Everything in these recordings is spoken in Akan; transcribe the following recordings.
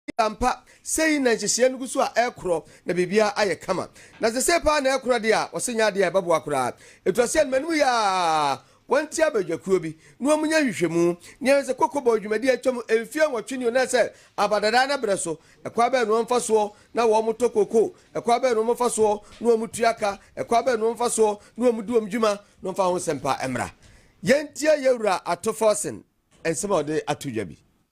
Enti ampa, sei na nhyehyeɛ no gu so a ɛrekorɔ, na biribiara ayɛ kama. Na sɛ sei paa na ɛrekora deɛ a, wɔse nyɛ adeɛ a ɛbɛboa koraa. Ɛto aseɛ no, m'anim yɛ aa, wɔnte abadwakuo bi na wɔnyɛ nhwehwɛmu na yɛhwɛ sɛ koko bɔ dwumadie a atwam mfeɛ nwɔtwe ni ɔnaa sɛ aba dadaa na berɛ so, ɛkwan bɛn na wɔmfa soɔ na wɔtɔ koko, ɛkwan bɛn na wɔmfa soɔ na wɔtua ka, ɛkwan bɛn na wɔmfa soɔ na wɔdi wɔn dwuma, na wɔmfa ho nsɛmpa mmra. Yɛntie Yɛwura Ato Forson nsɛm a ɔde ato dwa bi.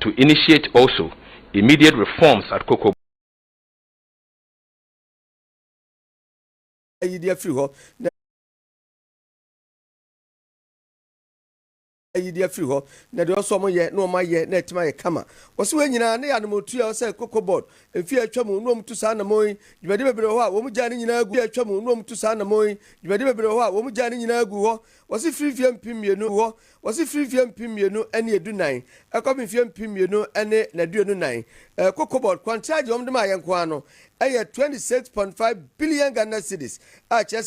To initiate also immediate reforms at Kokobo. Yi de afiri hɔ, na. Yi de afiri hɔ, na deɛ ɔsɔ wɔn yɛ na wɔn ayɛ na atim ayɛ kama. Wɔsi wei nyinaa ne yɛ anamɔtuo a ɛwɔ sɛ Koko Board mfeɛ a atwa mu na wɔn tu saa anamɔn yi. Dwumadie bebree wɔ hɔ a wɔn gyaa ne nyinaa gu. Mfeɛ a atwa mu na wɔn tu saa anamɔn yi. Dwumadie bebree wɔ hɔ a wɔn gyaa ne nyinaa gu hɔ. Wɔsi firi mfeɛ mpem mmienu hɔ. Wɔse firi mfeɛ mpem mmienu ne du nan kɔpem mfeɛ mpem mmienu ne aduonu nan ɛko cobalt kwankyerɛ deɛ wɔn de maa yɛn nko ara no yɛ twenty six point five billion Ghana cedis a ɛkyerɛ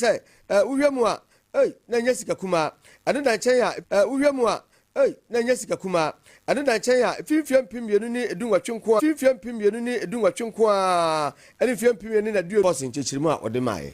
sɛ wohwɛ mu a ei na ɛnyɛ sika kumaa ɛno da nkyɛn a wohwɛ mu a ei na ɛnyɛ sika kumaa ɛno da nkyɛn a firi mfeɛ mpem mmienu ne du nwɔtwe nko ara firi mfeɛ mpem mmienu ne du nwɔtwe nko ara ne mfeɛ mpem mmienu ne aduonu kɔɔse nkyekyeremu a wɔde maa yɛn.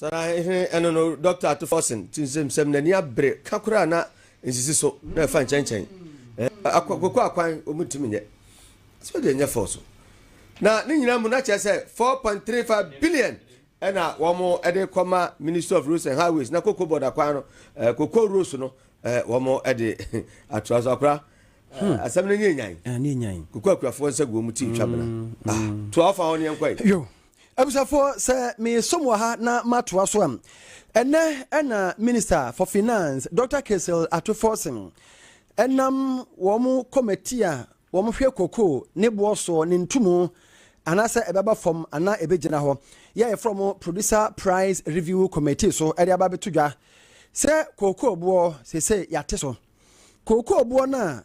Saa ara he ɛno no Dɔkta Ato Forson ti nsɛm sɛm n'ani abere ka koraa na nsisi so na ɛfa nkyɛnkyɛn koko akwan wɔn ntumi nyɛ sɛ wɔde nyɛ fɔɔ so na ne nyinaa mu na kyerɛ sɛ 4.35 billion ɛna wɔn de kɔma Ministry of Roads and Highways na koko bɔda kwan no koko roads no wɔn de atoa so akora asɛm no nyɛ nyan koko akurafoɔ nsa gu wɔn ti twa bena toa ɔfa hɔ ne yɛnkɔ yi. Abusuafoɔ, sɛ meresom wɔ ha na matoa so a, ɛnnɛ na Minister for Finance, Dɔkta Kessel Ato Forson, nam wɔn kɔmati a wɔhwɛ koko ne boɔ soɔ ne ntumu anaasɛ ɛbɛba fam anaa ɛbɛgyina hɔ yɛ a yɛfrɛ wɔn Producer Price Review Committee so de aba abɛto dwa sɛ kookooboɔ sese yɛate so kookooboɔ no a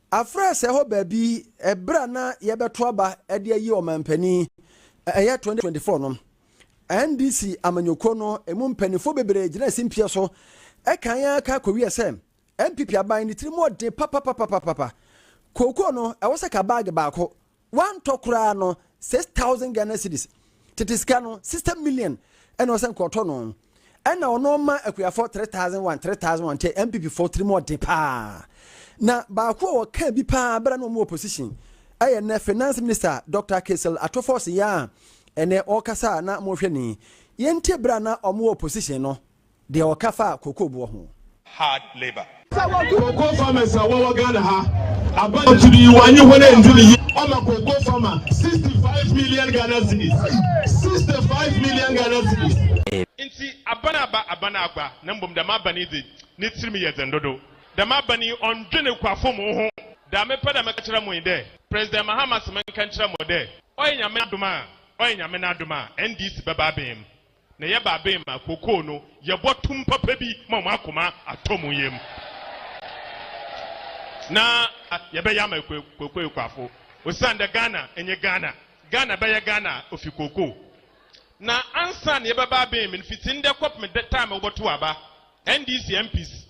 Afrɛ sɛ hɔ baabi ɛberɛ a na yɛbɛto aba de ayi ɔmanpanin, ɛyɛ 2024 no. NDC amanyɔkuo no ɛmu mpaninfoɔ bebree gyinaa simpie so kan ara ka kɔwiee sɛ NPP aban no tirim ɔden papapapapapa. Kookoo no ɛwɔ sɛ ka baage baako Wantɔ koraa no six thousand Ghana cedis tete sika no sixty million ɛna ɔsɛ nka ɔtɔ no ɛna ɔno ɔma akuafoɔ three thousand one three thousand one kyɛ NPP foɔ tiri mu ɔde paa na baako a wɔka bi paa bɛrɛ na wɔn wɔ position ɛyɛ nɛ finance minister Dr. Kesel Atofɔs yɛ a ɛnɛ ɔkasa na mo hwɛ ni yɛntie bɛrɛ na wɔn wɔ position no Deɛ ɔka fa cocoa boɔ ho. Hard labour. Cocoa farmers a wɔwɔ Ghana ha aba akyiri yi wɔanye hɔn enndzi no yie. Wɔma cocoa farmer sixty five million Ghana cedis, sixty five million Ghana cedis. Ntsi aban a aba, aban a agua, na mbom dɛm aban yi dze, ne tsirmu yɛ dzen dodow. Dɛm aban yi ɔnndwen ekuafo mu ho. Dza mepɛ dɛ meka kyerɛ mo nye dɛ, President Mahama se menka nkyerɛ mo dɛ, ɔyɛ Nyame adom a, ɔyɛ Nyame n'adom a, NDC bɛba aben mu. Na yɛ baben ma kokoo no yɛ bɔ tum papa bi ma ɔmo akoma atɔ ɔmo yam. Na yɛ bɛ yɛ ama kokoo ekuafo osian dɛ Ghana nye Ghana, Ghana bɛ yɛ Ghana a ofi kokoo. Na ansan yɛ bɛ baben me no fitsi ndɛ kɔpem dɛ taem a wɔ bɔ to aba, NDC MPs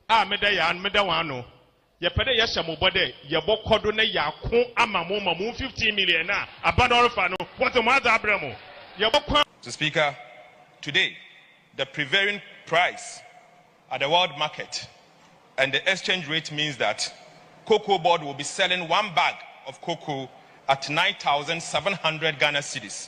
a me dɛ yɛ ano, me dɛ hɔn ano Yɛpɛ dɛ yɛhyɛ mo bɔ dɛ yɛbɔkɔ do na yɛako ama mo ma mo fifteen million no a aber no ɔrefa no wɔdze mo adze abrɛ mo. Yɛbɔkɔ. Mister Speaker, today the prevailing price at the world market and the exchange rate means that Cocoa Board will be selling one bag of cocoa at nine thousand seven hundred Ghana cedis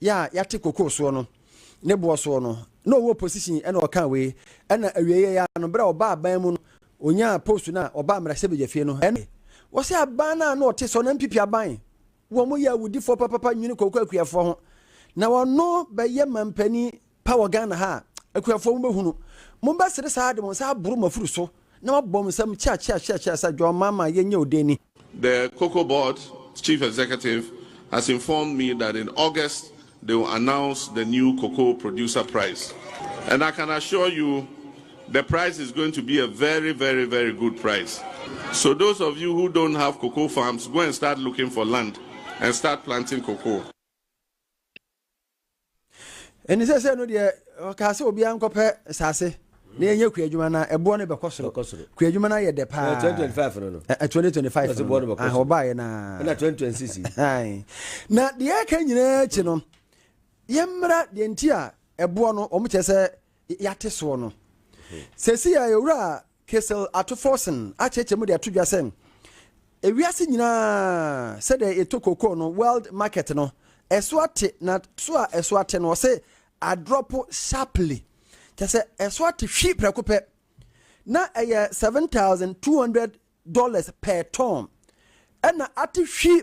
yɛ a yɛate kokoo soɔ no ne boɔ soɔ no na ɔwɔ position ɛna ɔka wei ɛna awieɛ yɛ no berɛ a ɔba aban mu no ɔnyaa post no a ɔba mmarahyɛbadwafie no ɛna wɔ sɛ aban no a na ɔte sɔ na mpipi aban wɔn yɛ awudifoɔ papapa nwene koko akuafoɔ ho na ɔno bɛyɛ mampanin pa wɔ Ghana ha a, akuafoɔ mobɛhunu. Mobɛsere saa ara de mo nsa aboro mo afuru so na moabɔ mo nsam kyeakyeakyeakyea sɛ, John Mahama, yɛnyɛ wo dɛn ni? The Cocoa Board Chief Executive has informed me that in August they will announce the new cocoa producer price and I can assure you the price is going to be a very very very good price so those of you who don't have cocoa farms go and start looking for land and start planting cocoa. Ɛnti seesei no deɛ ɔkaa sɛ obiara nkɔpɛ saase na yɛnyɛ kuadwuma na ɛboɔ no bɛkɔ soro. Ɛkɔ soro. Kuadwuma no ayɛ dɛ paa. Ɛɛ, 2025 no no. Ɛ- 2025 Ɛsɛ no boɔ no no. bɛkɔ Ah, soro. wɔbaeɛ no ara. Ɛna 2026 yi. Ae. Na deɛ ɛka nyinaa akyi no, yɛmmra deɛ nti a ɛboɔ no wɔkyerɛ sɛ y- yɛate soɔ no. Sɛsi a yɛwura Kissel ato Forson akyerɛkyerɛ mu de ato dwa sɛ, Wiase nyinaa sɛdeɛ yɛtɔ kokoo no, world market no, ɛso ate, na so a ɛso ate no, ɔse adrɔpo sharply, kyerɛ sɛ ɛso ate hwi prɛko pɛ, na ɛyɛ 7,200 dollars per ton, ɛna ate hwi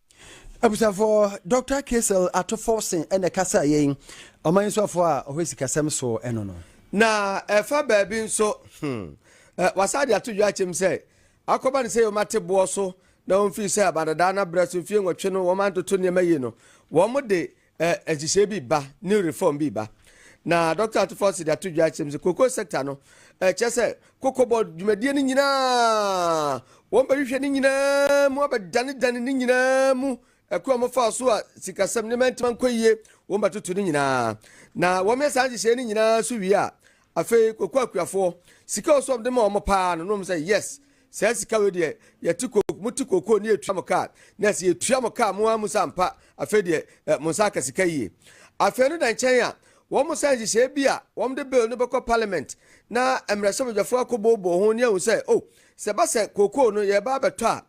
Abusuafoɔ, Doctor Kiesel Ato Forson na ɛkasa yɛn, Ɔman yi Soafoɔ a ɔhwɛ Sikasɛm so no no. Na ɛfa baabi nso, hmm, wɔasan de ato dwa akyɛm sɛ, akɔba no sɛ wɔate boɔ so na wɔmfiri sɛ Abadadaa no abrɛ so mfeɛ nwɔtwe no wɔantoto nneɛma yie no, wɔde Eh, nhyehyɛe bi ba, new reform bi ba. Na Dɔkta Atufo Asidi ato dwa kyerɛ mu sɛ cocoa sector no, eh, kyerɛ sɛ kokobɔ dwumadie no nyinaa, wɔbɛhwehwɛ ne nyinaa mu abɛdanedane ne nyinaa mu ɛko a wɔfaa so a sikasɛm ne mɛntema nkɔ yie, wɔbɛtoto ne nyinaa. Na wɔyɛ saa nhyehyɛe no nyinaa so wie a, afei kokoa akuafoɔ, sika a ɔsɔ wɔn de ma wɔn paa no, na wɔn sɛ yes, Saa sika wei deɛ yɛte koko mote koko ne yɛtua mo kaa na sɛ yɛtua mo kaa mo ara mu sɛ ampa afei deɛ eh, mo nsa aka sika yie afei no da nkyɛn a wɔn mo san nhyehyɛɛ bi a wɔn de bill no bɛkɔ parliament na mmerɛhyɛbadwafoɔ akɔbooboo ho ne ahu sɛ o oh, sɛ ba sɛ koko no yɛba abɛtɔ a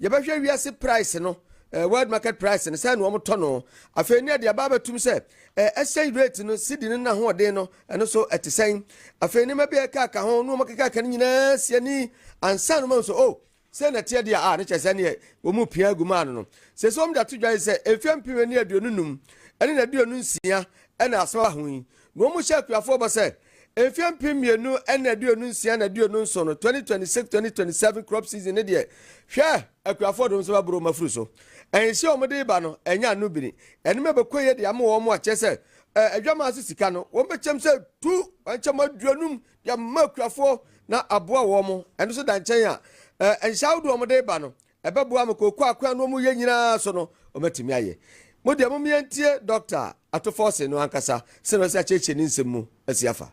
yɛbɛhwɛ wiase price no eh, world market price no sɛ na wɔn tɔ no afei ne yɛde aba abɛtum sɛ eh, exchange rate no sidi no na hoɔden no Ɛno nso ɛte sɛn? Afei nneɛma bi a ɛkaaka ho na wɔkekaaka no nyinaa si ani ansa na wɔahu sɛ, o, sɛ na ɛteɛ deɛ a, ne kyerɛ sɛ neɛ wɔn pia agu maa no no. Sɛ sɛ wɔn de ato dwa yi sɛ mfeɛ mpem ani aduonu num ne na aduonu nsia na asɛm aba ho yi, na wɔn hyɛ akuafoɔ bɔ sɛ mfeɛ mpem mmienu ne aduonu nsia na aduonu nson no, 2026, 2027 crop season no deɛ, hwɛ, akuafoɔ de wɔn nsa bɛboro wɔn afuru so. Nhyɛ a wɔde reba no, ɛnyɛ ano bini. Nneɛma bɛkɔ yie de ama wɔn a kyerɛ sɛ Ɛɛ adwaman ase sika no, wɔbɛkyɛm sɛ tu nkyɛm aduonum de ama akuafoɔ na aboa wɔn. Ɛno nso da nkyɛn a, ɛɛ nhyɛ ahodoɔ a wɔde reba no, ɛbɛboa ma kooko akwan no wɔyɛ nyinaa so no, wɔatumi ayɛ. Mo deɛ, momma yɛntie Dɔkta Atofɔse no ankasa, sɛdeɛ ɔsi akyerɛkyerɛ ne nsɛm mu asi afa.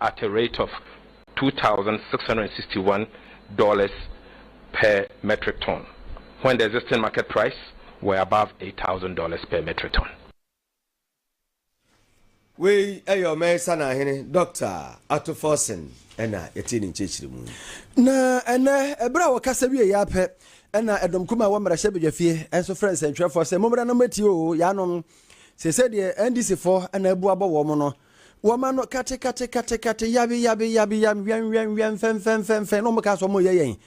at a rate of two thousand six hundred and sixty one dollars per metric ton when the existing market price were above eight thousand dollars per metric ton. Wei yɛ ɔman yi sanahene Dɔkta Ato Forson na yɛtee ne nkyerɛkyerɛmu yi. Na ɛnnɛ, ɛberɛ a wɔkasa wieeɛ ara pɛ na ɛdɔm kumaa a ɛwɔ mmarahyɛbadwafie nso frɛɛ nsɛntwerɛfoɔ sɛ, Mommra na mommɛtie oo, yaanom, seesei deɛ NDCfoɔ na abu abɔ wɔn no, Wɔma no katekatekatekatekate, yabeyabeyabeyam, wɛnwɛnwɛn, fɛnfɛnfɛnfɛn, na wɔka sɛ wɔreyɛ yɛn.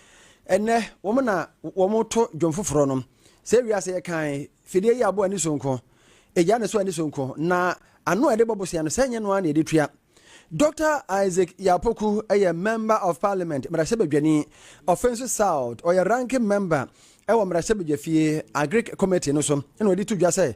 Ɛnnɛ, wɔn na wɔto dwom foforɔ no. Sɛ wiase yɛ kann, fidie yi aboa ani so nko. Egyaa ne so ani so nko. Na ano a yɛde bɔ bosea no, sɛ ɛnyɛ no ara na yɛde tua. Dɔkta Isaac Yapoku yɛ Member of Parliament, mmarahyɛbadwani. Ɔfei nso South, ɔyɛ Ranking Member wɔ mmarahyɛbadwafie Agric Committee no so, ɛna ɔde to dwa sɛ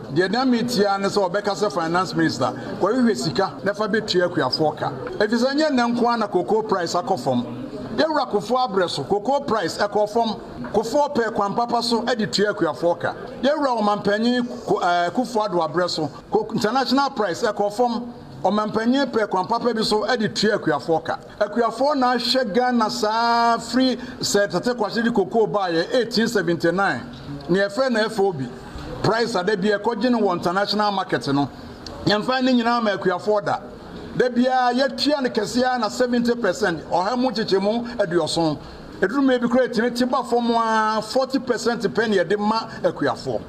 Deɛ na me tie ara ne sɛ ɔbɛka sɛ finance minister kɔhwehwɛ sika na fa bɛtua akuafoɔ ka. Ɛfiri sɛ nyɛ nnɛ nko ara na cocoa price akɔ fam. Yawura Kufuor abrɛ so, cocoa price ɛkɔɔ fam. Kufuor pɛɛ kwan papa so de tuaa akuafoɔ ka. Yawura Ɔmanpanyin Kufuor Addo abrɛ so, cocoa international price ɛkɔɔ fam. Ɔmanpanyin pɛɛ kwan papa bi so de tuaa akuafoɔ ka. Akuafoɔ na ahwɛ Ghana saa firi sɛ Tete Kwashe de cocoa baeɛ 1879 na yɛfrɛ no FOB price a da biara yɛkɔgye no wɔ international market no. Yɛmfae ne nyinaa ma akuafoɔ da. Da biara yɛtua no kɛseɛ ara na 70 percent, ɔha mu nkyekyɛmu aduɔson. Ɛduru mmerɛ bi koraa ɛtumi te ba fam ara 40 percent pɛ na yɛde ma akuafoɔ.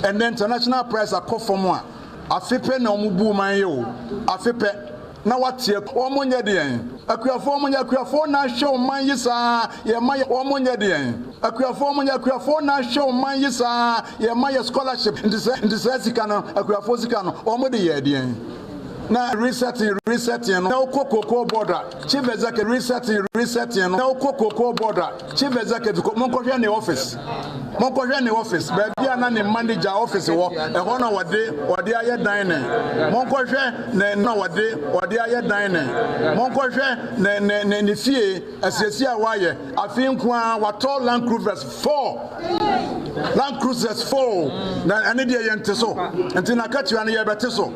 Ɛnɛ international price akɔ fam a afe pɛ na wɔn buu man yi o, afe pɛ na wateɛ, wɔn nyɛ deɛn? Akuafoɔ wɔn nyɛ akuafoɔ na ahwɛ ɔman yi saa yɛ ma yɛ, wɔn nyɛ deɛn? Akuafoɔ wɔn nyɛ akuafoɔ na ahwɛ ɔman yi saa yɛ ma yɛ scholarship, nti sɛ nti saa sika no, akuafoɔ sika no, wɔn de yɛɛ deɛn? Na resetting resetting no, na wokɔ cocoa board a, chief executive resetting resetting no, na wokɔ cocoa board a, Chief Executive kɔ, monkɔhwɛ ne office, monkɔhwɛ ne office, baabi a na ne manager office wɔ, ɛhɔ na wɔde wɔde ayɛ dining, monkɔhwɛ ne na wɔde wɔde ayɛ dining, monkɔhwɛ ne ne ne ne fie asiesie a wɔayɛ, afei nko ara watɔ Land Cruisers four, Land Cruisers four, na ɛne deɛ yɛn te so, nti na akatua no yɛbɛte so,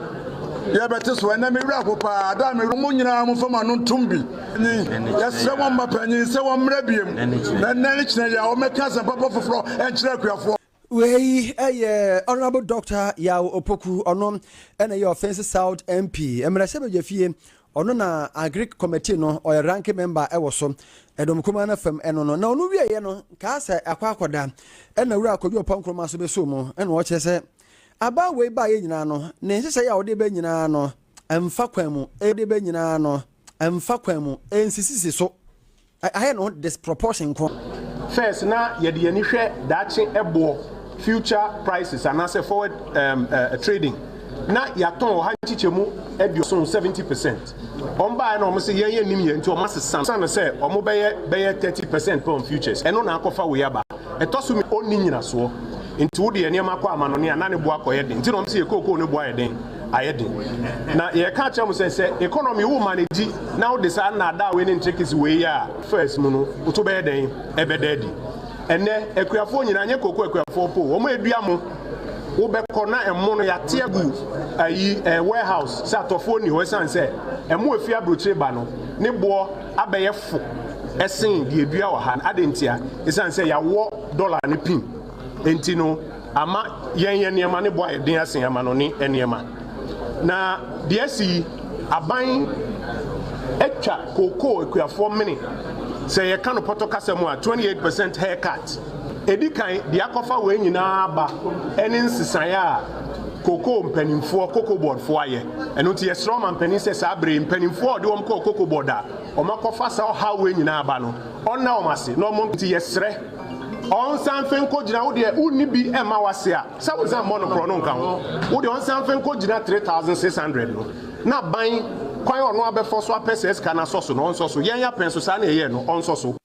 yɛbɛte so, ɛnɛ me werɛ ho paa, da me werɛ, mo nyinaa mo fam ano ntom bi. Panyin, Yɛsrɛ mo mma panyin sɛ wɔmmra biom, na nnɛ ne kyena yi a wɔmmɛka asɛmpa pa foforɔ nkyerɛ akuafoɔ. Wei yɛ Honourable Doctor Yaw Opoku, ɔno na ɛyɛ Offinsi South MP, mmarahyɛbadwafie, ɔno na Agric Committee no ɔyɛ Ranking Member wɔ so, Ɛdɔm Kumaa no fam ɛno no. Na ɔno wieɛ no kaa sɛ akɔ akɔda na Wura Kojo Ɔpɔ Nkrumah nso bɛsoo mu, ɛna ɔkyerɛ sɛ abaa wei baeɛ nyinaa no ne nhyehyɛeɛ a ɔde ba nyinaa no Ɛmfa kwan mu. Ede bɛ nyinaa no. Ɛmfa kwan mu. Ɛnsisisi so. Ayɛ ne ho disproportion nko. First na yɛde yɛn ani hwɛ daakye ɛboɔ, future prices, anaasɛ forward trading. Na yɛatɔn wɔ ha nkyekyɛmu aduoson, seventy percent. Wɔn baeɛ na wɔn se yɛn yɛnnim yɛn nti wɔn asesa no. Sane sɛ wɔn bɛyɛ bɛyɛ thirty percent pɛ on futures. Ɛno na akɔfa wei aba. Ɛtɔ so mmienu, ɔnni nyinasoɔ. Nti wo de yɛn nneɛma kɔ amanɔne a na ne bo akɔyɛ den. Nti na wɔn se yɛn kookoo no bo ayɛ den. ayɛ den. Na yɛreka akyerɛ mo sɛ, sɛ economy wo ma no di na wode saa nnaadaa wei ne ntricks wei yɛ a, first mu no wo to bɛyɛ dɛn? Ɛbɛda adi. Ɛnnɛ akuafoɔ nyinaa, nyɛ cocoa akuafoɔ mpo, wɔn a ɛdua mo, wobɛkɔ na ɛmo no yɛate agu ayi eh, warehouse sɛ atɔfoɔ nni hɔ ɛsiane sɛ ɛmo ɛfi aburokyire ba no ne boɔ abɛyɛ fo ɛsen deɛ ɛdua wɔ ha no. Adɛn ntia? Ɛsiane sɛ yɛawɔ dollar no pin. Enti no, ama yɛn nneɛma no bo ayɛ den asen amanɔnne nneɛma. Na deɛ asi yi, aban atwa kookoo akuafoɔ mene. Sɛ yɛka no pɔtɔ kasa mu a, 28 percent haircut. Ɛdi kan, deɛ akɔfa wei nyinaa aba ne nsesaeɛ a kookoo mpanimfoɔ, cocoa board, foɔ ayɛ. Ɛno nti, yɛsrɛ ɔmampanin sɛ saa berɛ yi, mpanimfoɔ a wɔde wɔn kɔɔ cocoa board a wɔakɔfa saa ɔhaw wei nyinaa aba no, wɔnna wɔn ase na wɔn nti yɛsrɛ. Ɔnsan mfe nkogyina wo deɛ wonni bi mma w'ase a sɛ wonsan mmɔ no korɔ no nka ho wo deɛ ɔnsan mfe nkogyina 3600 no na ban kwan ɔno abɛfɔ so apɛ saa sika no asɔ so no ɔnsɔ so yɛn apɛn so saa na yɛyɛɛ no ɔnsɔ so.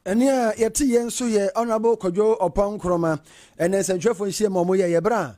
Ɛne a yɛte yɛ nso yɛ Honourable Kwadwo Ɔpɔn Nkrumah ɛnɛ nsɛntwerɛfoɔ nhyiam a wɔyɛeɛ berɛ a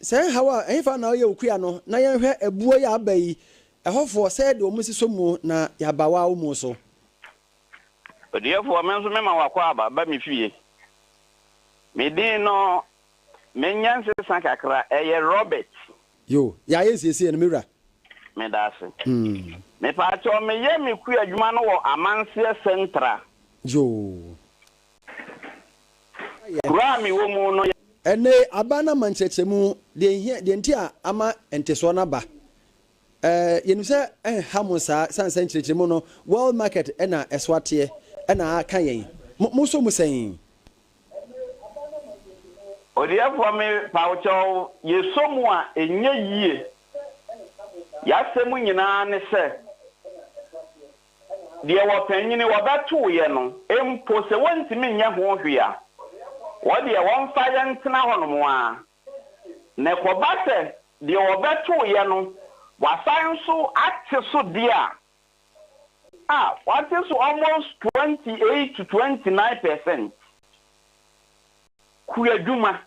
Sɛɛ nhaw a ɛhefa na ɔyɛ wo kua no na yɛnhwɛ abuo yi a aba yi ɛhɔfoɔ sɛ yɛde wɔn si so muo na yɛaba woa wo muo so. Odiɛfoɔ me nso mema w'akwaaba ba me fie me din no mɛnya nsesa kakra ɛyɛ Robert. Yo, yɛayɛ nsiesie no me wura. Meda ase. Mepaakyɛw meyɛ me kua adwuma no wɔ Amanseɛ Central. Yo. Kuro a mewɔ mu no yɛ. Ɛnnɛ yi, aba no ama nkyerɛkyerɛmu, deɛ ɛhia, deɛ nti a ama ntesoɔ no aba. Ɛɛ, yɛnim sɛ ɛnha mo saa, ɛsiane sɛ nkyerɛkyerɛmu no, world market na ɛso ateɛ, ɛna aka yɛn. Mo, mosɔ mu sɛn? Odiɛfoɔ, Me pa wo kyɛw, yɛsɔ mu a ɛnyɛ yie. Yɛasɛm nyinaa ne sɛ. deɛ wɔpanyini wɔbɛtoo yɛ no mpo sɛ wɔntumi nyɛ ho hwee a, wɔdeɛ wɔmfa yɛ ntena hɔnom ara, na ɛkɔba sɛ deɛ wɔbɛtoo yɛ no wasan nso ate so deɛ a, a wate so almost twenty eight to twenty nine percent kuadwuma,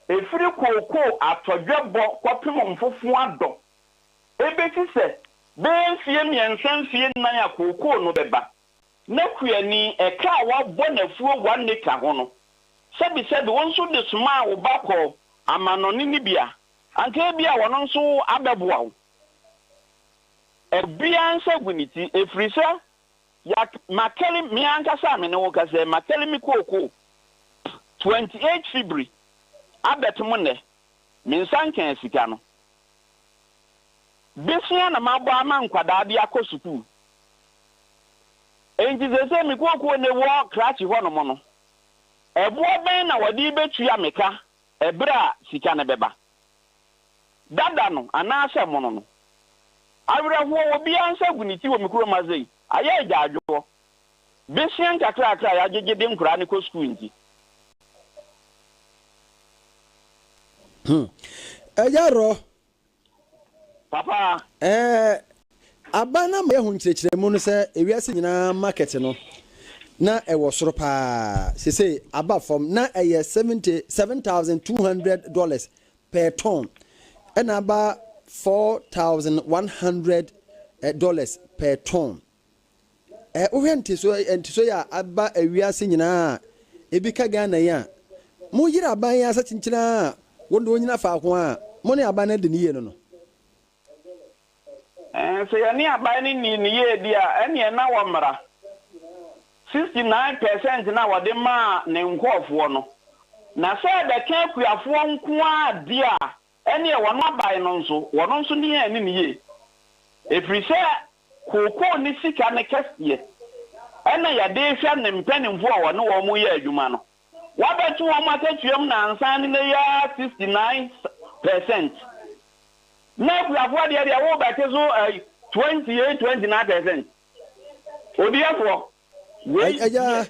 ɛfiri kookoo atɔdwɛbɔ kɔpem mfofoadɔ Ebesi sɛ bɛyɛ mfeɛ mmiɛnsa mfeɛ nnan a kookoo no bɛba. Ná Kuani, ɛka a wɔabɔ no afuo one acre ho no, sɛbesɛbe wo nso de somaa wo ba kɔɔ amannɔne no bi a, anka ebia ɔno nso abɛboa wo. Obiara nsa agu ne ti, ɛfiri sɛ yɛak, makari, me ankasa a me ne wo kasa yi, makari me kookoo twenty eight fibiri abɛtom nnɛ. Me nsa nkaa sika no. Desua na mabɔ ama nkwadaa de akɔ sukuu. Enti seesei me kookoo no wɔ krakye hɔnom no, ɛboɔ bɛn na wɔde rebɛtua me ka ɛberɛ a sika no bɛba? Dada no anaasɛ mono no? Awerɛhoɔ, obiara nsa gu ne ti wɔ me kurom ha sei, ayɛ agyaadwoɔ. besua nkakrakra a yɛagyegye de nkwadaa no kɔ sukuu nti. Hmm. Ɛyɛ rɔ. Papa. Ɛɛ, aban no ama yɛahu nkyerɛkyerɛmu no sɛ ewiase nyinaa market no, na ɛwɔ soro paa. Seesei aba fam. Na ɛyɛ seventy, seven thousand two hundred dollars per ton, ɛnna aba four thousand one hundred dollars per ton. Ɛ wohwɛ nteso nteso yi a aba wiase nyinaa a ebi ka Ghana yi a, mo yere aban yi asa kyenkyen a wɔn de wɔnyina faako a mo ne aban no adi no yie no no. Ɛɛ sɛ yɛne aban no nni no yie deɛ a, ɛnneɛ na wɔ mmara. 69 per cent no a wɔde maa ne nkurɔfoɔ no, na sɛ ɛbɛka akuafoɔ nko ara deɛ a, Ɛnneɛ wɔn aban no nso, wɔn nso nni yɛn anim yie, ɛfiri sɛ kookoo ne sika ne kɛseɛ na yɛde rehwɛ ne mpanimfoɔ a wɔne wɔn reyɛ adwuma no. Wɔabɛto wɔn akatua mu nnansa ne nnɛ yi ara 69 per cent, na akuafoɔ deɛ deɛ worebɛte so 28, 29 per cent. Odiyifoɔ, wei yɛ.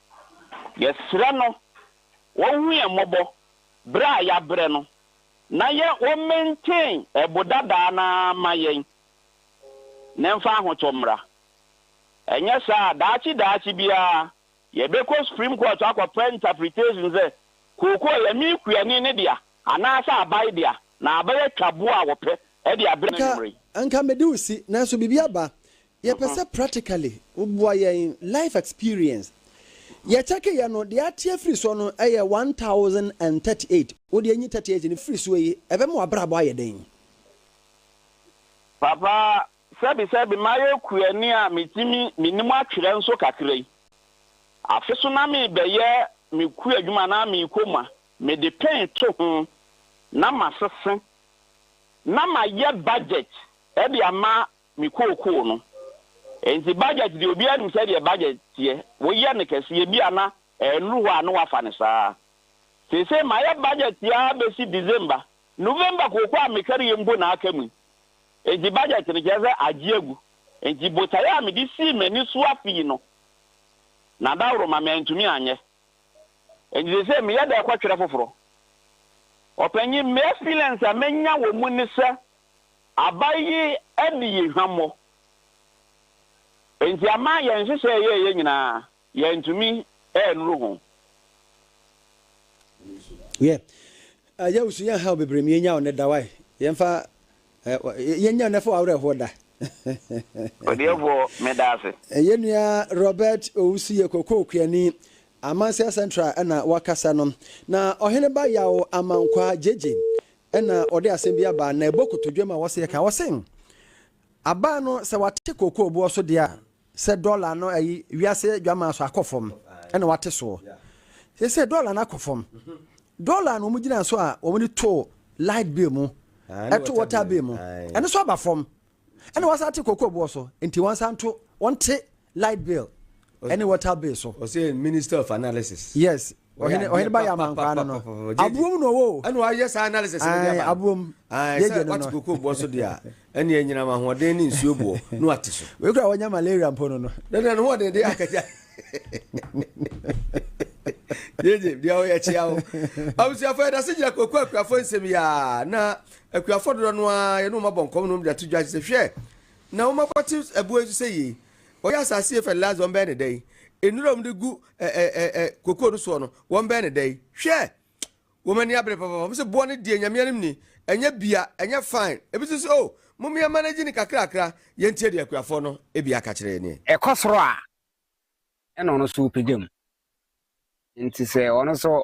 Yɛsrɛ no ɔhu yɛn mmɔbɔ berɛ a yɛabrɛ no na yɛ ɔ maintain ɛbo dadaa no ara ma yɛn na ɛmfa ahotɔ mmra. Ɛnyɛ saa a daakye daakye biara yɛbɛkɔ Supreme Court akɔpɛ interpretation sɛ kookoo yɛ me kuani no dea anaasɛ abae dea na abɛyɛ twaboa a wɔpɛ de abrɛ no anwummerɛ yi. Anka, anka mede wo si, nanso biribi aba. Yɛpɛ sɛ practically woboa yɛn life experience. Yɛ check yɛ no, deɛ ateɛ firi soɔ no yɛ one thousand and thirty eight, wo deɛ nyi thirty eight no firi soɔ yi, ɛbɛma w'abrabɔ ayɛ dɛn? Papa, sɛbi sɛbi mayɛ kuani a metumi menim atwerɛ nso kakra yi. Afe so na mebɛyɛ me kua adwuma anaa me koma, mede pen to ho na masese na mayɛ budget de ama me kookoo no. Enti budget deɛ obiara nim sɛdeɛ budget teɛ, woyɛ no kɛseɛ ebia na ɛnnuru hɔ a na woafa no saa. Seesei mayɛ budget ara bɛsi December, November kookoo a mekari yi mpo na aka mu yi. Enti budget no kyerɛ sɛ agye agu. Enti botaeɛ a mede sii m'ani so afe yi no, Nadaworoma mantumi anyɛ. Enti seesei meyɛ dɛ kɔtwerɛ foforɔ. Ɔpanyin, m'experience a manya wɔ mu ne sɛ, Aba yi adi yɛn hwammɔ. Enti ama yɛn nhyehyɛe a yɛreyɛ nyinaa, yɛantumi annuru ho. Yɛ a yɛawu so yɛn haw bebree mu yɛnnya ɔnnɛ da wai yɛmfa eh, yɛnnya ɔnnɛ fo awerɛhoɔ da. Ɔdeɛfoɔ meda ase. Yɛn nua Robert Owusu yɛ Kokoo Kuani, Amansia Central ɛna wakasa no. Na Ɔheneba Yaw Amankwaa, Gyegye, Ɛnna ɔde asɛm bi aba, na ɛbɔ kotodwe ma wɔseɛ ka. Ɔse, Aba no, sɛ wate kookoo boɔ so deɛ a, sɛ dɔla no ayi, wiase dwamaa so akɔ fam, ɛnna wate soɔ. Seesei dɔla no akɔ fam. Dɔla no wɔgyinaa so a wɔde too light bill mu, ɛtoo water bill mu, ɛno nso aba fam. ɛna wɔsan te koko boɔ so nti wɔn san to wɔn te light bill ɛne water bill so. ɔsɛ minister of analysis. yes ɔhene ɔhene ba yɛ amankwa no no aboom na ɔwɔ. ɛna wayɛ saa analysis no de aba no aboom yɛ gye no no sɛ wate koko boɔ so deɛ a ɛne ɛnyinam ahoɔden ne nsuo boɔ no ate so. wei kura wɔnya malaria mpo no no. na na ne ho ɔden de akɛgya. yeye deɛ ɔyɛ kyea o abusuafo yɛda se gyina koko akuafo nsɛm yi a na Akuafo dodoɔ no ara yɛne wɔn abɔ nkɔm ne wɔn de ato dwa sɛ, Hwɛ, na wɔn akɔ te ɛboɔ yi so sɛ yei. Wɔyɛ asase yei fɛ laa sɛ wɔn bɛyɛ no dɛn? Nnuro a wɔn de gu ɛ ɛ ɛ ɛ kokoo no soɔ no, wɔn bɛyɛ no dɛn? Hwɛ, wɔn ani abere papaapa. Wɔn se, Boɔ no deɛ, Nyame anim ni, ɛnyɛ bia, ɛnyɛ fine. Ebi nso se, Oh, mom yɛn manage no kakrakra, yɛn tie deɛ akuafoɔ no bi aka kyerɛ yɛn. Ɛkɔ soro a, ɛna ɔno nso ɔpagya mu. Nti sɛ ɔno nso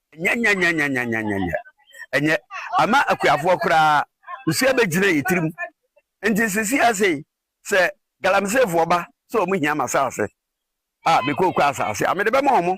Nyanyanyanyanyanyanya! Ɛnyɛ. Ama akuafoɔ koraa, nsuo abɛgyina yɛn tirim. Nti sisi ara sei, sɛ Galamiseefoɔ ba sɛ wɔn hia m'asaase a, me kooko asaase a, mede bɛma wɔn.